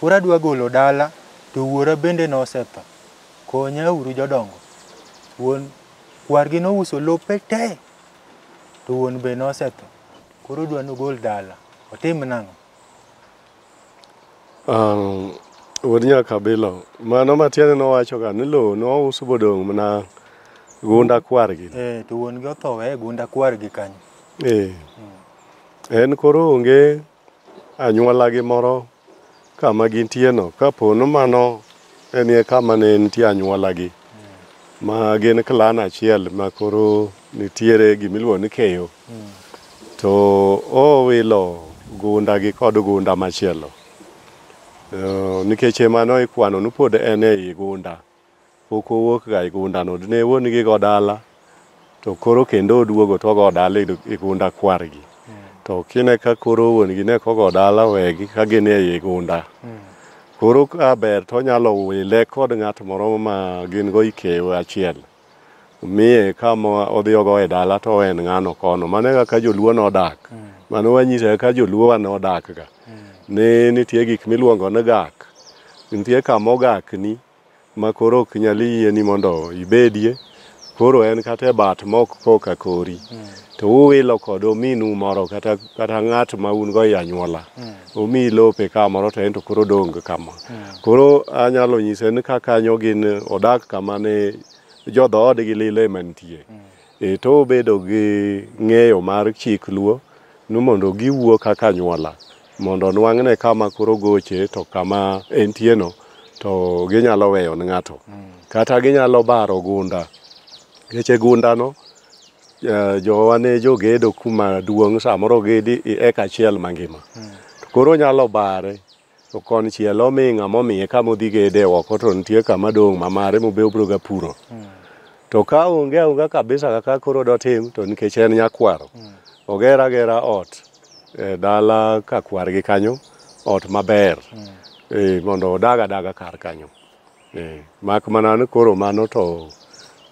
Koro adwa golo dala to wuora bende nosetho. Konya uru jodongo. Wuon kwargi nouso lope te to wuon be nosetho. Koro odwa nogol dala. Otim nang'o? Um, wuod nyakabilo mano matiende nowachoga ni lowo nous bodong' mana gunda kwargi Eh, to wuon gi otho weye gunda kwargi kanyo. eh. en koro onge anyuolagi moro kama gintieno kapo ni mano enie kama ne nitie anyuolagi ma gin klan achiel ma koro nitiere gimiluongo ni keyo to owilo gundagi kod gunda machielo Eh, nikech emano ikwano ni pod en ei gunda Pok owuok ga e gunda no. Ne wuon gi go dala to koro kendo oduogo to ogo dala e gunda kwar gi. To kine ka koro wuon gi ne kogo dala wegi ka gin e gunda. Koro ka ber to onyalo wile kod ng'at moro ma gin go ikew achiel. Miye kama odhi ogo e dala to en ng'ano kono. Mano e kaka joluo nodak. Mano wanyise kaka joluo wa nodak ga. Ne nitie gik miluongo ni gak. Nitie kama ogak ni. ma koro ok nyal yieni mondo ibedie, koro en kata e bat mok koka kori, to uwilo kod ominu moro kata, kata ng'at ma un go e anyuola, omiyi lope kamoro to en to koro odong' kama. Koro anyalo nyise ni ka kanyo gin odak kama ne jo dhoodgi lilo ema nitie. E to obedo gi ng'eyo mar chik luo ni mondo giwuo kaka anyuola mondo nwang'ne kama koro goche to kama entieno to ginyalo weyo ne ng'ato kata ginyalo baro gunda ngeche gundano eh, jowa ne jogedo kuma duong' samoro gedi i- eka achiel mangima to koro nyalo bare To konchiel omi ng'ama omiye kama odhi gede oko to nitie kama dong' ma mare mobe obiro ga puro. To ka onge aonga kabisa kaka koro dotim to nikech en nyakwaro, oger agera ot e dala ka kwargi kanyo, ot maber eh, mondo odag adaga kar kanyo. Eh, mak mana ni koro mano to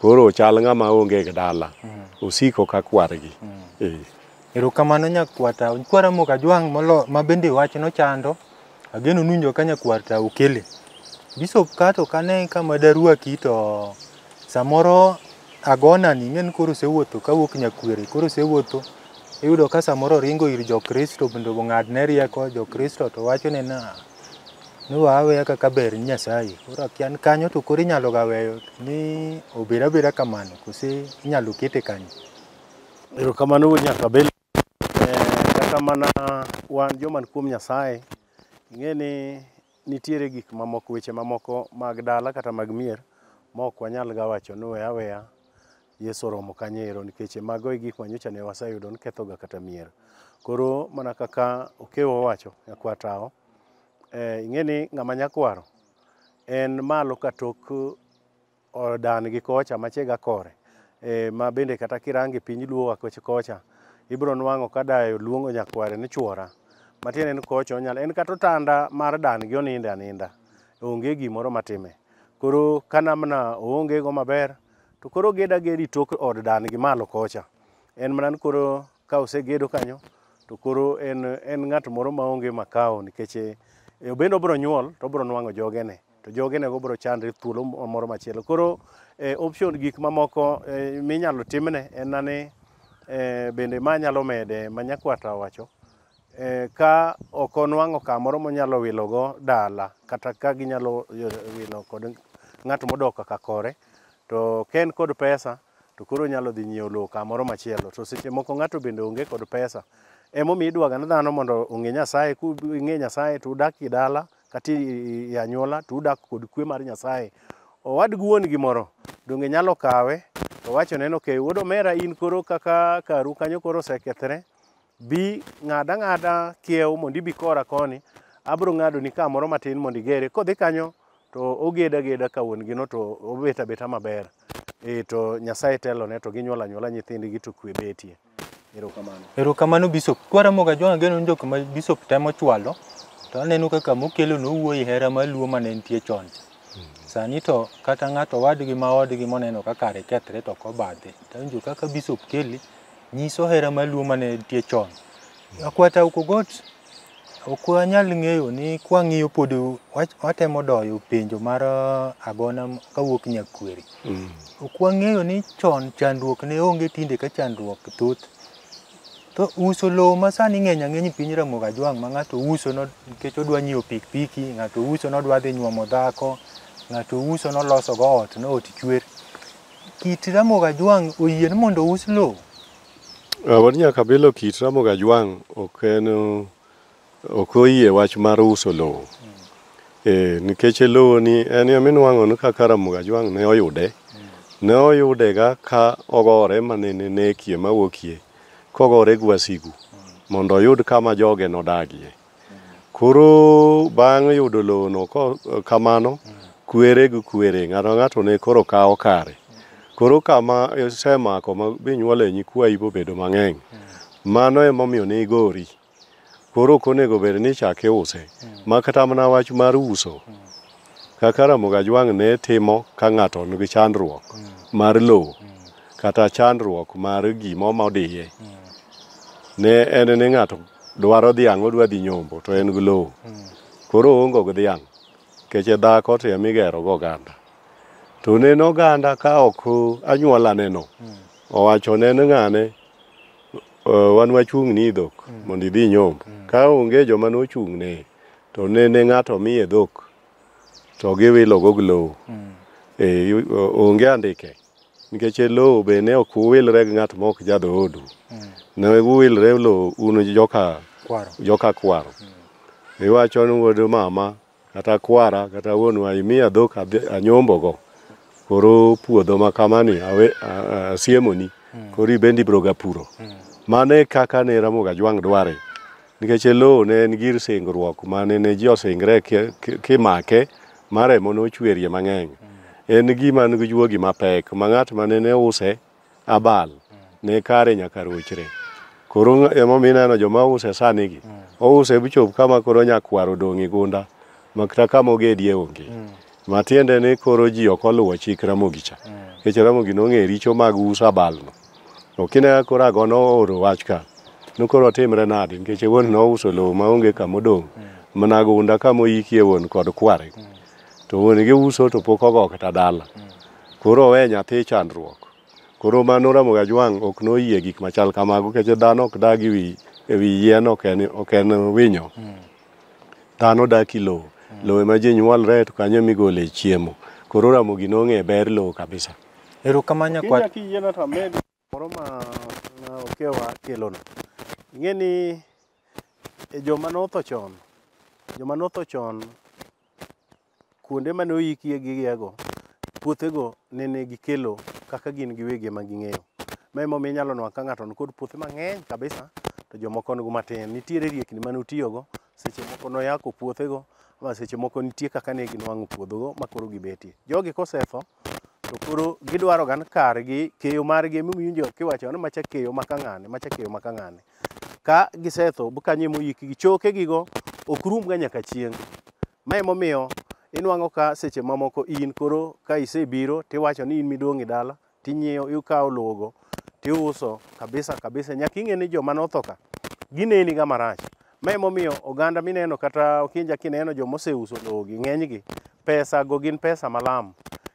koro chal ng'ama onge gi dala mm. osiko ka kwargi mm. eh. erokamano nyakwata kwara moka jwang' molo ma bende wach nochando ageno nunjo ka nyakwarta okele bisop kato kane kama daruaki to samoro agonani ing'e ni koro osewuotho kawuok nyakwere koro osewuotho iyudo ka samoro oringo ir jokristo bende ong'adne rieko jokristo to wachone na ni wa aweya kaka ber ni Nyasaye. Koro akia ni kanyo to koro inyalo ga weyo ni obed abeda kamano kose inyalo kete kanyo. Erokamano wuod Nyakabel. Eh, Kata mana wan joman kuom Nyasaye, ing'e ni nitiere gik mamoko, weche mamoko mag dala kata mag mier ma ok wanyal ga wacho ni we aweya Yesu oromo kanyo ero nikech e mago e gik ma nyocha ne waseyudo ni kethoga kata mier. Koro mana kaka Okewo owacho, nyakwar Tawo, eh, ing'e ni ng'ama nyakwaro en malo ka tok odan gi kocha machega kore eh, ma bende kata kirange piny luo wa koch- kocha ibiro nwang'o ka dayo luongo nyakware ni chwora matiende ni kocha onyalo en kata otanda mar dan gi oninde aninda onge gimoro matime koro kanamna oonge go maber To koro ged agedi tok od dan gi malo kocha. En mana ni koro ka osegedo kanyo to koro en, en ng'at moro maonge makao nikech eh, obende obiro nyuol to obiro nwang'o jogene to jogenego biro chandre thuolo moro machielo. Koro eh, option gik mamoko eh, minyalo timne en na ni eh, bende ma nyalo mede ma nyakwata owacho eh, ka ok onwang'o kamoro monyalo wilogo dala kata ka ginyalo eh, wilo kod ng'at modok kaka kore to ka en kod pesa to koro onyalo dhi nyiewo lowo kamoro machielo to seche moko ng'ato bende onge kod pesa emomiyo idwaga ne dhano mondo ong'e nyasaye king'e nyasaye to udak e dala kata i- i anyuola to udak kod kwe mar nyasaye owad gi wuon gi moro donge nyalo kawe to wachone ni okay wuod omera in koro kaka karu kanyo koro osekethre Bi, ng'ad ang'ada kiewo mondo ibi kora koni, abiro ng'adoni ka moro matin mondo igere. Kodhi kanyo to ogeda ageda ka wuon gino to obet abeta maber. Eh, to Nyasaye telone to ginyuol anyuola nyithindgi to kwe betie. Erokamano. Erokamano Bishop. Kwaramoga John Ageno en jok ma Bishop temo chwalo to aneno kaka mokelo nowuoyi hera mar Luo mane nitie chon cha. Sani to kata ng'ato wadgi ma odgi moneno ka kare kethre to ok obadhe. To awinjo kaka Bishop kele nyiso hera mar luo mane nitie chon. Akwata Ukogot ok wanyal ng'eyo ni kwang'iyo pod wach- watemo doyo penjo mar ah, agona m- kawuok Nyakweri. Ok wang'eyo ni chon chandruok ne onge tinde ka chandruok thoth. To uso lowo ma sani ng'eny ang'eny e piny Ramogi Ajwang' ma ng'ato uso no- nikech odwa nyiewo pikipiki, ng'ato uso nodwa dhi nyuomo dhako, ng'ato uso nolosogo ot, no ot chwer. Kit Ramogi Ajwang' oyie ni mondo ous lowo? Ah, wan nyaka bilo kit Ramogi Ajwang' ok en ok oyie wach mar uso lowo. Eh, nikech lowo ni en ema inuang'o ni kaka Ramogi Ajwang' ne oyude. Ne oyudega ka ogore mane ne nekie mawuokie kogore gi wasigu mondo oyud kama joge nodagie. Koro bang' yudo lowono ko- kamano, kwere gi kwere, ng'ato ka ng'ato ne koro kawo kare. Koro kama isemako ma binyuole nyikwayi bobedo mang'eny, mano emomiyo ne igori. Koro ok onego bed ni ichak iuse, ma kata mana wach mar uso, kaka Ramogi Ajwang' ne timo ka ng'ato nigi chandruok mar lowo kata chandruok mar gima omodiye, ne en ni ng'ato dwaro dhiang' odwa dhi nyombo to en gi lowo koro oongo gi dhiang' keche dhako to ema igero go oganda to neno oganda ka ok anyuola neno owacho neno ng'ane "Eh, wan wachung' ni dhok mondo idhi nyombo ka onge joma nochung' ne to nene ng'ato miye dhok to giwilo go gi lowo Eh, yu- o- onge andike Nikech e lowo be ne ok uwilre gi ng'at ma ok jadhoodu, mm. ne uwilre e lowo un joka kwaro. Joka kwaro. Mm. Iwacho ni wuod mama kata kwara kata wuonwa imiya dhok anyombogo koro puodho ma kamani asiemoni mm. koro ibende ibroga puro. Mm. Mano e kaka ne Ramogi Ajwang' dware Nikech e lowo ne en gir singruok ma ne ne ji osingre kimake ma remo nochwerie mang'eny. En gima nigi juogi mapek ma ng'at ma ne use abal ne kare nyaka rochre. Koro emomiyo ineno joma use sanigi, ouse bichop kama koro nyakwar odong' e gunda ma kata kama ogedie onge. Matiende ni koro ji ok oluwo chik Ramogi cha, nikech Ramogi nong'eyo richo mag uso abalno. To kine koro ago nooro wach ka, nokoro timre nadi nikech wuon nouso lowo maonge kama odong', mana gunda kama oyikie wuon kod kware. To wuon gi uso to pok ogo kata dala. Koro owe nyathi chandruok. Koro ma noramo ga jwang' ok noyie gik machal kamago nikech dhano ok dag ewi ewi yien ok en ok en winyo. Dhano dak i lowo. Lowo ema ji nyuolre to kanyo emigole chiemo. Koro Ramogi nong'e ber lowo kabisa. Erokamano nyakwar. Kinya kiyiena to amed moro ma okewa kelono. Ing'e ni e joma notho chon, joma notho chon kuonde mane oyikie gigiego, puothego nene gikelo kaka gin giwegi ema ging'eyo. Ma emomiyo inyalo nwa ka ng'ato nikod puothe mang'eny kabisa to jomoko nigo matin. Nitiere riekni mane otiyogo seche moko noyako puothego ma seche moko nitie kaka ne ginwang'o puodhogo ma koro gibetie. Jogi kosetho to koro gidwaro gan kargi keyo margi emiwinjo kiwacho ni macha keyo ma kang'ane macha keyo ma kang'ane. Ka gisetho kanyo emoyikgi chokegigo ok rumga nyaka chieng'. Ma emomiyo inwang'o ka seche mamoko in koro ka isebiro tiwacho ni in midong' e dala tinyiewo ikawo lowogo tiuso kabisa kabisa nyaka ing'e ni joma notho ka gineni ga marach ma emomiyo oganda mineno kata okinja kineno joma oseuso lowogi ng'enygi pesa go gin pesa malam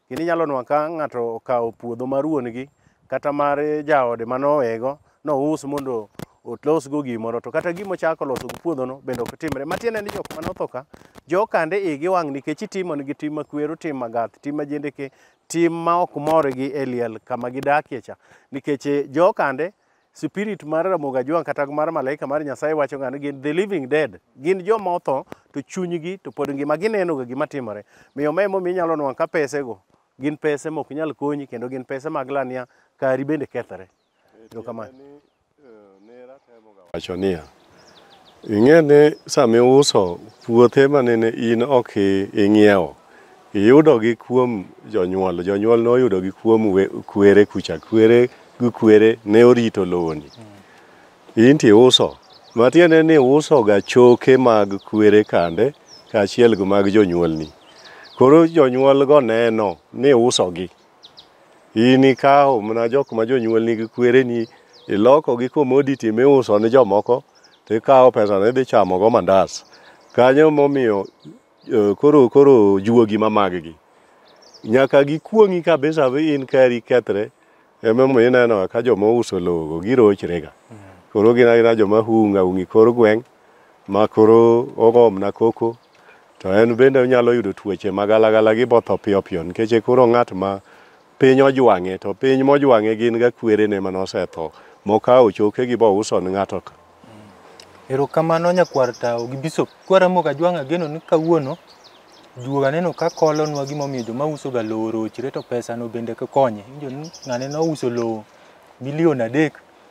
kendo inyalo nwa ka ng'ato okawo puodho mar wuon-gi kata mar jaode manowego nous mondo otlosgo gimoro to kata gima ochako loso gi puodhono bende ok timre matiende ni jok manotho ka jokande igi wang' nikech itimonigi tim makwero tim magath tim majendeke tim ma ok mor gi e liel kama gidakie cha nikech eh, jokande spirit mar Ramogi Ajwang' kata mar malaika mar Nyasaye wacho ng'ani gin the living dead gin joma otho to chunygi to pod ngima ginenoga gima timore miyo ma emomiyo inyalo nwang' ka pesego gin pese mok nyal konyi kendo gin pese mag lania kari bende kethre Erokamano. Wacho niya, ing'e ni sama iuso puothe ma nene in ok i- ing'iewo, iyudogi kuom jonyuol. Jonyuol noyudogi kuom we- kwere kucha. Kwere gi kwere ne orito lowoni. In to iuso. Matiende ni iusoga choke mag kwere kande kaachiel gi mag jonyuolni. Koro jonyuolgo neno ni iusogi. In ikawo mana jok ma jonyuol nigi kwereni iloko gi commodity miuso ne jomoko to ikawo pesano idhi chamo go mandas. Kanyo momiyo eh, koro koro juogi ma maggi nyaka gikuong'i kabisa vi in kari kethre emomiyo ineno ka joma ouso lowogo girochrega koro gin agina joma hunga hungi kor gweng' ma koro ogomna koko To en bende onyalo yudo tuoche ma galagala gi botho piyo piyo nikech e koro ng'at ma piny ojwang'e to piny mojwang'e gin ga kwerene mane osetho mokawo chokegi bouso ne ng'ato ka. Erokamano nyakwar tawo gi bishop. Kwara moga jwang' ageno ni kawuono juoga aneno ka kolonwa gimomiyo joma usoga lowo orochre to pesano bende konye. Injo ni ng'ane nouso lowo milion adek